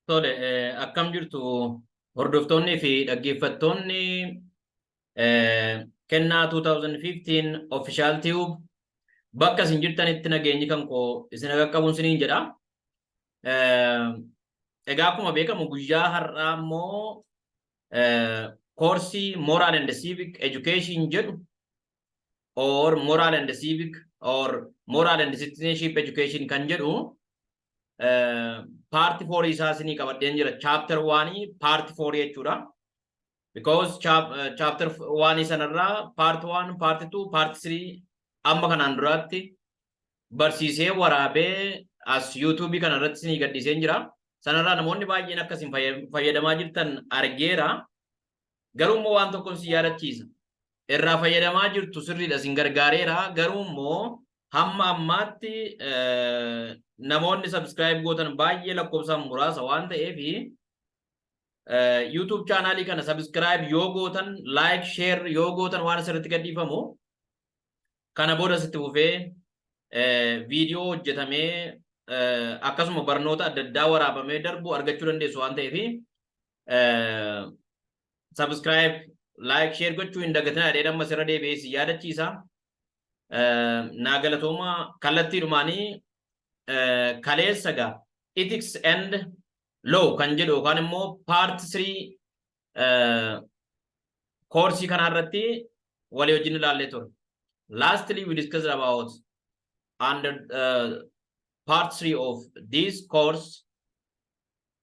Tole, eh, akkam jirtu hordoftoonnii fi dhaggeeffattoonni eh, kennaa 2015 Official Tube bakka isin jirtanitti nageenyi kan koo isin qaqqabuun isiniin jedha. Eh, Egaa akkuma beekamu guyyaa har'aa immoo eh, koorsii Moral and Civic Education jedhu or moral and civic or moral and citizenship education kan jedhu paarti foorii isaa isinii qabadheen jira chapter waanii paarti foorii jechuudha because chapter waanii sanarraa paarti waan paarti tuu paarti sirii amma kanaan duraatti barsiisee waraabee as yuutuubii kana irratti isinii gadhiiseen jira sanarraa namoonni baay'een akkasiin fayyadamaa jirtan argeera Garuu immoo waan tokkon si yaadachiisa. Irraa fayyadamaa jirtu sirriidha sin gargaareera. Garuu immoo hamma ammaatti namoonni subscribe gootan baay'ee lakkoofsaan muraasa waan ta'eef YouTube chaanaalii kana subscribe yoo gootan like share yoo gootan waan asirratti gadhiifamu kana booda sitti fufee viidiyoo hojjetamee akkasuma barnoota adda addaa waraabamee darbu argachuu dandeessu waan ta'eef Subscribe, like, share gochuu hin dagatinaa jedhee amma sirra deebi'ee si yaadachiisa. Naa galatooma kallattii dhumaanii kaleessa gaa ethics and law kan jedhu yookaan immoo part 3 koorsii kanaa irratti walii wajjin ilaallee ture. Lastly, we discussed about under uh, part 3 of this course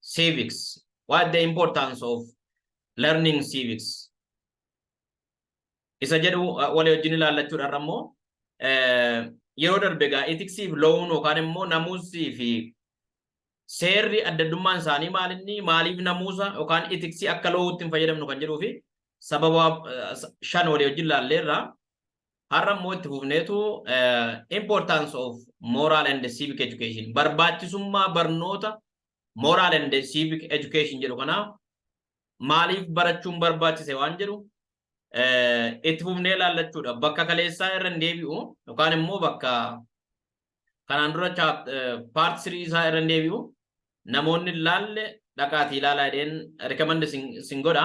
Civics. What the importance of learning civics? Isa jedhu walii wajjin ilaallachuudhaan ammoo yeroo darbe egaa itiksii fi lo'uun yookaan immoo namuusii fi seerri adda addummaan isaanii maalinni maaliif namuusa yookaan itiksii akka lo'uutti hin fayyadamnu kan jedhuu fi sababa shan walii wajjin ilaalleerra Har'a immoo itti fufneetu importance of moral and civic education barbaachisummaa barnoota moral and civic education jedhu kanaa maaliif barachuun barbaachise waan jedhu itti fufnee ilaallachuudha. Bakka kaleessaa irra hin deebi'u yookaan immoo bakka kanaan dura paart sirii isaa irra hin deebi'u namoonni ilaalle dhaqaatii ilaalaa jedheen rikamendi sin godha.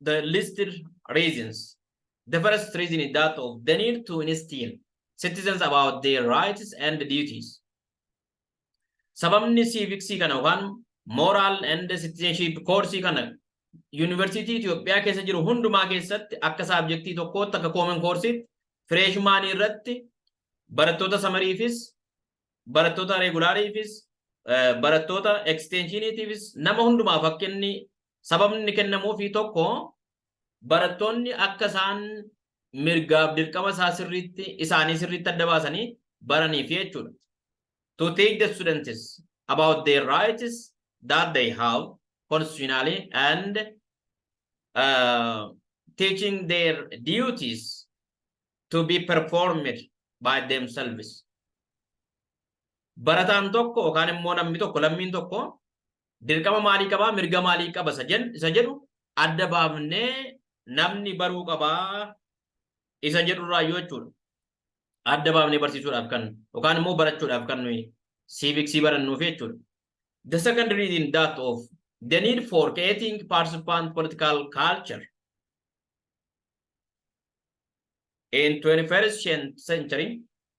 the listed reasons. The first reason is that of the need to instill citizens about their rights and duties. Sababni siiviksii kana yookaan moral and citizenship koorsii kana yuunivarsiitii Itoophiyaa keessa jiru hundumaa keessatti akka saabjektii tokkootti akka koomen koorsiitti fireeshmaanii irratti barattoota samariifis barattoota reegulaariifis barattoota eksteenshiiniitiifis nama hundumaaf akka inni Sababni inni kennamuufii tokko barattoonni akka isaan mirgaaf dirqama isaa sirriitti isaanii sirriitti adda baasanii baraniif jechuudha. To teach the students about their rights that they have constitutionally and uh, teaching their duties to be performed by themselves. Barataan tokko yookaan immoo namni tokko lammiin tokko dirqama maalii qabaa mirga maalii qaba isa jen- isa jedhu adda baafnee namni baruu qabaa isa jedhu irraa yoo jechuudha. Adda baafnee barsiisuudhaaf kan yookaan immoo barachuudhaaf kan nuyi siiviksii barannuuf jechuudha. The second reading that of the need for creating participant political culture in 21st cen- century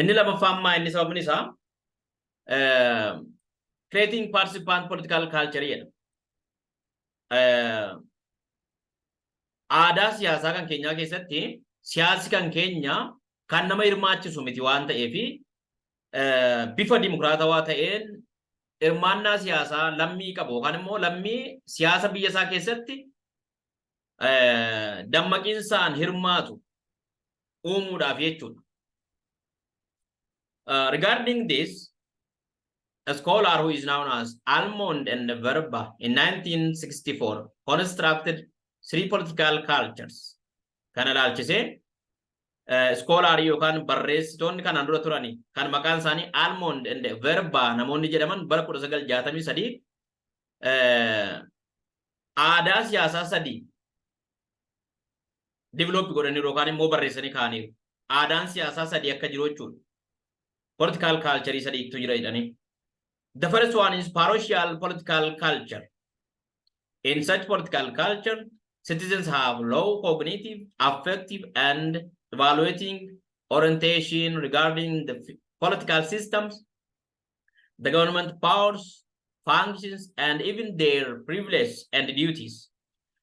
Inni lamaffaa ammaa inni sababni isaa eh, creating participant political culture jedha. Eh, Aadaa siyaasaa kan keenyaa keessatti siyaasi kan keenya kan nama hirmaachisu miti waan ta'eef eh, bifa dimokiraatawaa ta'een hirmaannaa siyaasaa lammii qabu yookaan immoo lammii siyaasa biyya isaa keessatti dammaqinsaan hirmaatu uumuudhaaf jechuudha. Uh, regarding this, a scholar who is known as Almond and Verba in 1964 constructed three political cultures. Kana ilaalchisee iskoolaarii yookaan barreessitoonni kanaan dura turani kan maqaan isaanii Almond and Verba namoonni jedhaman bara 1963 aadaa siyaasaa sadii develop godhaniiru yookaan immoo barreessanii kaa'aniiru. Aadaan siyaasaa sadii akka jiru jechuudha. Political culture sadiitu jira jedhanii. The first one is parochial political culture. In such political culture, citizens have low cognitive, affective, and evaluating orientation regarding the political systems the government powers, functions, and even their privileges and duties.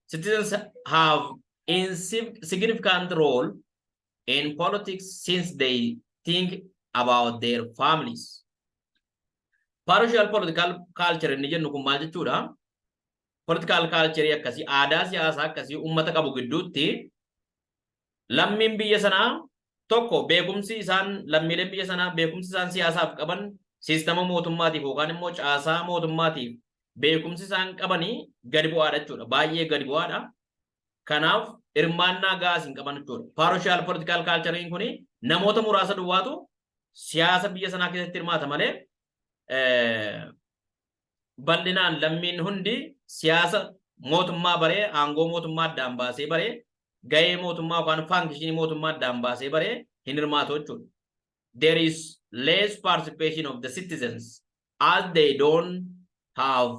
Citizens have a significant role in politics since they think about their families. Partial political culture inni jennu kun maal jechuudha? Political culture akkasii aadaa siyaasaa akkasii uummata qabu gidduutti lammiin biyya sanaa tokko beekumsi isaan lammiileen biyya sanaa beekumsi isaan siyaasaaf qaban siistama mootummaatiif yookaan immoo caasaa mootummaatiif beekumsi isaan qabanii gadi bu'aadha jechuudha. Baay'ee gadi bu'aadha. Kanaaf hirmaannaa gaas hin qaban jechuudha. Paaroshaal poolitikaal kaalchariin kun namoota muraasa duwwaatu siyaasa biyya sanaa keessatti hirmaata malee bal'inaan lammiin hundi siyaasa mootummaa baree aangoo mootummaa addaan baasee baree gahee mootummaa yookaan faankishinii mootummaa addaan baasee baree hin hirmaatu jechuudha. There is less participation of the citizens as they don't have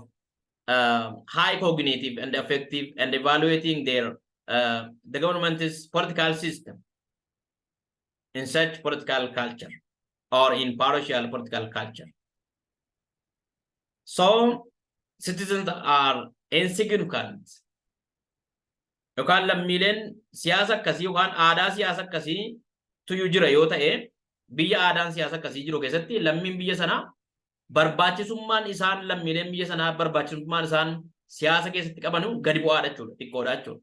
uh, high cognitive and effective and evaluating their uh, the government's political system. in such political culture or in partial political culture. So citizens are insignificant. Yookaan lammiileen siyaasa akkasii yookaan aadaa siyaasa akkasii tuyyuu jira yoo ta'e biyya aadaan siyaasa akkasii jiru keessatti lammiin biyya sanaa barbaachisummaan isaan lammiileen biyya sanaa barbaachisummaan isaan siyaasa keessatti qabanu gadi bu'aadha jechuudha xiqqoodha jechuudha.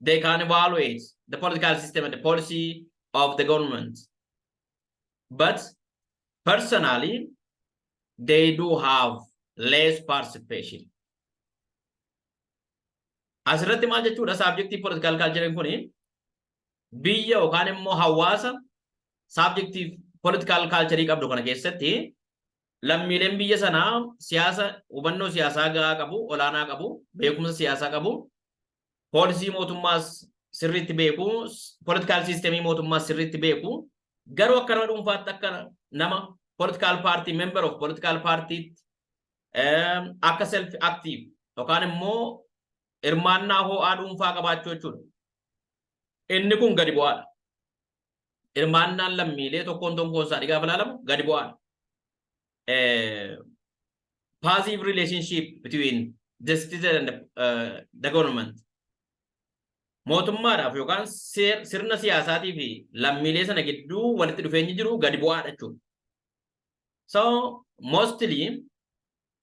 they can evaluate the political system and the policy of the government. But personally, they do have less participation. Asirratti maal jechuudha saabjektii political culture kun biyya yookaan immoo hawaasa saabjektii political culture qabdu kana keessatti lammiileen biyya sanaa siyaasa hubannoo siyaasaa gahaa qabu, olaanaa qabu, beekumsa siyaasaa qabu, poolisii mootummaas sirriitti beeku, politikaal siistemii mootummaas sirriitti beeku. Garuu akka nama dhuunfaatti akka nama politikaal paartii member of politikaal paartiitti akka self active yookaan immoo hirmaannaa ho'aa dhuunfaa qabaachuu jechuudha. Inni kun gadi bu'aadha. hirmaannaan lammiilee tokkoon tokkoon isaa dhigaaf ilaalamu gadi bu'aadha. Positive relationship between the citizen and the, uh, the government. Mootummaadhaaf yookaan sirna siyaasaatii fi lammiilee sana gidduu walitti dhufeenyi jiru gadi bu'aadha jechuudha. So mostly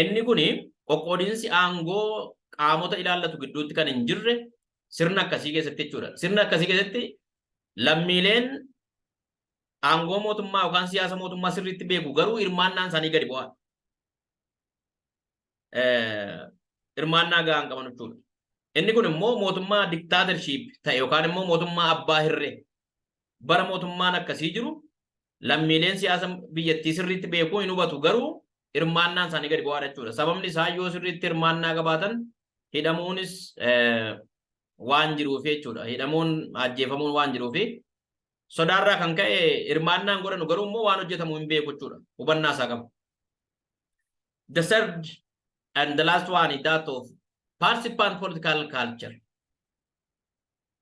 Inni kun qoqqoodinsi aangoo qaamota ilaallatu gidduutti kan hin jirre sirna akkasii keessatti jechuudha. Sirna akkasii keessatti lammiileen aangoo mootummaa yookaan siyaasa mootummaa sirriitti beeku garuu hirmaannaan isaanii gadi bu'aa. Hirmaannaa gahaa hin qaban jechuudha. Inni kun immoo mootummaa diktaatershiip ta'e yookaan immoo mootummaa abbaa hirree bara mootummaan akkasii jiru Lammiileen siyaasa biyyattii sirriitti beekuu hin hubatu garuu hirmaannaan isaanii gadi bu'aadha jechuudha. Sababni isaa yoo sirriitti hirmaannaa qabaatan hidhamuunis waan jiruuf jechuudha. Hidhamuun ajjeefamuun waan jiruuf sodaarraa kan ka'e hirmaannaan godhanu garuu immoo waan hojjetamu hin beeku jechuudha. Hubannaa isaa qabu. The third and the last one is that of participant political culture.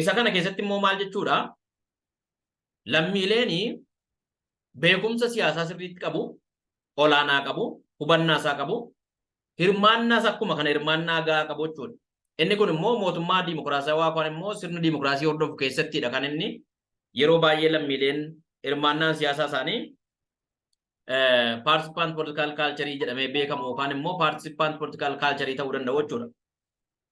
Isa kana keessatti immoo maal jechuudha? Lammiileen beekumsa siyaasaa sirriitti qabu, olaanaa qabu, hubannaa isaa qabu, hirmaannaas akkuma kana hirmaannaa gahaa qabu jechuudha. Inni kun immoo mootummaa diimokiraasawaa yookaan immoo sirna diimokiraasii hordofu keessattidha kan inni yeroo baay'ee lammiileen hirmaannaan siyaasaa isaanii participant political culture jedhamee beekamu yookaan immoo participant political culture ta'uu danda'u jechuudha.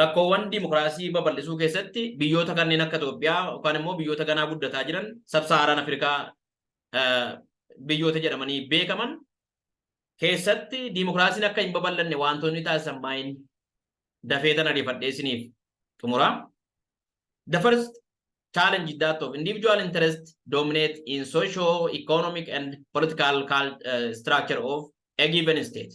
rakkoowwan dimokiraasii babal'isuu keessatti biyyoota kanneen akka Itoophiyaa yookaan immoo biyyoota ganaa guddataa jiran sabsaaraan Afrikaa biyyoota jedhamanii beekaman keessatti dimokiraasiin akka hin babal'anne wantoonni taasisan maayin dafee tan ariifadhee isiniif xumura. The first challenge is that of individual interest dominate in socio-economic and political uh, structure of a given state.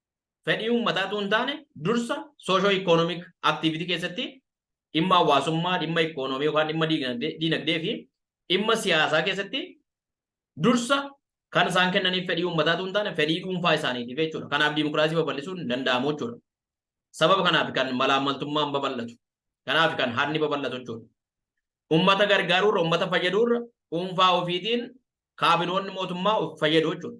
fedhii uummataa utuu hin taane dursa soosho ikoonomik aktiivitii keessatti dhimma hawaasummaa, dhimma ikoonoomii yookaan dhimma diinagdee diinagdee fi dhimma siyaasaa keessatti dursa kan isaan kennaniif fedhii uummataa utuu hin taane fedhii dhuunfaa isaaniitiif jechuudha. Kanaaf diimokiraasii babal'isuun hin danda'amu jechuudha. Sababa kanaaf kan malaammaltummaan babal'atu. Kanaaf kan hanni babal'atu jechuudha. Uummata gargaaruurra uummata fayyadurra dhuunfaa ofiitiin kaabinoonni mootummaa of fayyadu jechuudha.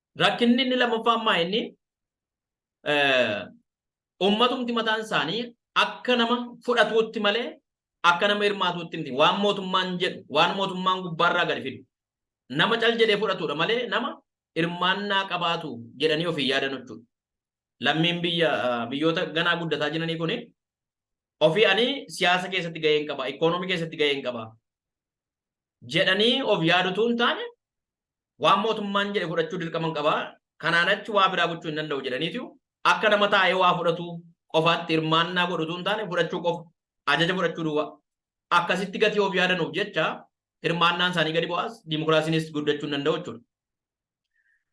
Rakkinni inni lammaffaa ammaa inni ummatumti mataan isaanii akka nama fudhatuutti malee akka nama hirmaatuutti miti. Waan mootummaan jedhu, waan mootummaan gubbaarraa gadi fidu. Nama cal jedhee fudhatudha malee nama hirmaannaa qabaatu jedhanii ofii yaadan jechuudha. Lammiin biyya biyyoota ganaa guddataa jiranii kuni ofii ani siyaasa keessatti gaheen qaba, ikoonoomii keessatti gaheen qaba jedhanii of yaadutu hin taane waan mootummaan jedhe fudhachuu dirqaman qaba kanaan achi waa biraa gochuu hin danda'u jedhaniitu akka nama taa'ee waa fudhatu qofaatti hirmaannaa godhu utuu hin taane fudhachuu qofa ajaja fudhachuu duwwaa akkasitti gatii of yaadanuuf jecha hirmaannaan isaanii gadi bu'aas dimokiraasiinis guddachuu hin danda'u jechuudha.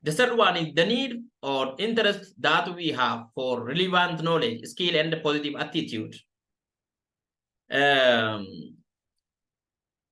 The third one is the need or interest that we have for relevant knowledge, skill, and positive attitude. Um,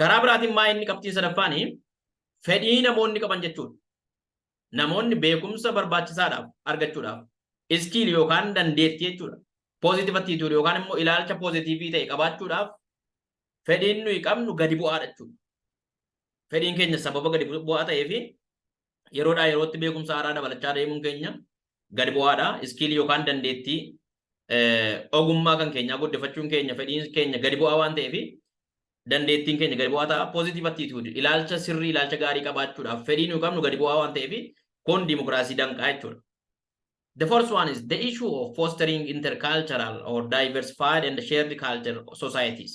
Karaa biraatiin maa inni qabxiin sadaffaan fedhii namoonni qaban jechuudha. Namoonni beekumsa barbaachisaadhaaf argachuudhaaf iskiil yookaan dandeettii jechuudha. Positive attitude yookaan immoo ilaalcha pozitiivii ta'e qabaachuudhaaf fedhiin nuyi qabnu gadi bu'aadha jechuudha. Fedhiin keenya sababa gadi bu'aa ta'ee fi yeroodhaa yerootti beekumsa haaraa dabalachaa deemuun keenya gad bu'aadha. Iskiilii yookaan dandeettii ogummaa kan keenyaa guddifachuun keenya fedhiin keenya gadi bu'aa waan ta'eef dandeettiin keenya gadi bu'aa ta'a. Positive attitude ilaalcha sirrii ilaalcha gaarii qabaachuudhaaf fedhii nuyi qabnu gadi bu'aa waan ta'eef kun dimokiraasii danqaa jechuudha. The first one is the issue of fostering intercultural or diversified and shared culture societies.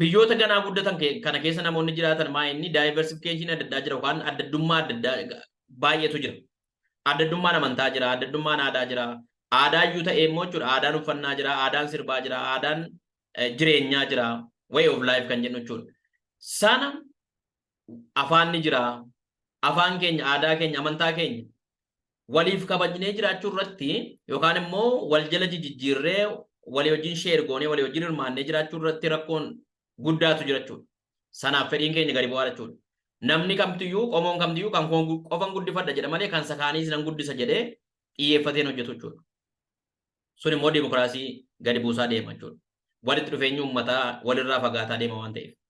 biyyoota ganaa guddatan ke- kana keessa namoonni jiraatan maa inni diversification adda addaa jira yookaan adda addummaa adda addaa ga- baay'eetu jira. Adda addummaan amantaa jira, adda addummaan aadaa jira. Aadaa iyyuu ta'ee immoo jechuudha aadaan uffannaa jira, aadaan sirbaa jira, aadaan eh, jireenyaa jira, way of life kan jennu jechuudha. Sana afaan ni jira. Afaan keenya, aadaa keenya, amantaa keenya waliif kabajnee jiraachuu irratti yookaan immoo wal jala jijjiirree walii wajjin sheer goonee walii wajjin hirmaannee jiraachuu irratti rakkoon guddaatu jira jechuudha. Sanaaf fedhiin keenya gadi bu'aa jechuudha. Namni kamtiyyuu qomoon kamtiyyuu kan koo qofan guddifadha jedha malee kan sakaaniis nan guddisa jedhee xiyyeeffateen hojjetu jechuudha. Sun immoo dimokiraasii gadi buusaa deema jechuudha. Walitti dhufeenyi uummataa walirraa fagaataa deema waan ta'eef.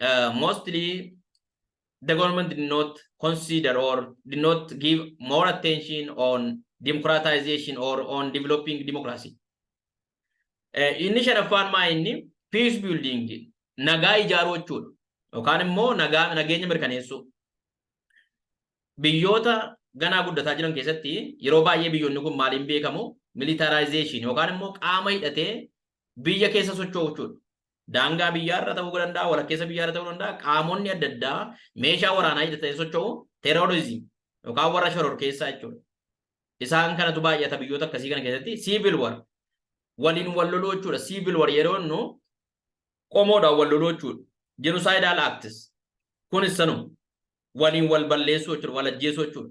uh, mostly the government did not consider or did not give more attention on democratization or on developing democracy. Uh, inni shanaffaan maa inni peace building nagaa ijaaruu jechuudha. Yookaan immoo nagaa nageenya mirkaneessuu. Biyyoota ganaa guddataa jiran keessatti yeroo baay'ee biyyoonni kun maaliin beekamu militarization yookaan immoo qaama hidhatee biyya keessa socho'u jechuudha. Daangaa biyyaa irra ta'uu danda'a, walakkeessa biyyaa irra ta'uu danda'a. Qaamonni adda addaa meeshaa waraanaa hidhatanii socho'u terrorism yookaan warra shororkeessaa jechuudha. Isaan kanatu baay'ata biyyoota akkasii kana keessatti civil war waliin wal loluu jechuudha. Civil war yeroo jennu qomoodhaan wal loluu jechuudha. Genocidal acts kunis sanuma waliin wal balleessuu jechuudha, wal ajjeesuu jechuudha.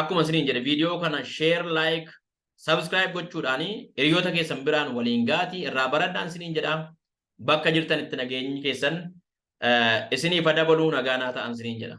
akkuma isiniin jedhe viidiyoo kana share like subscribe gochuudhaan hiriyoota keessan biraan waliin gaatii irraa baradhaan isiniin jedha bakka jirtan itti nageenyi keessan isiniif adabaluu nagaanaa ta'an isiniin jedha.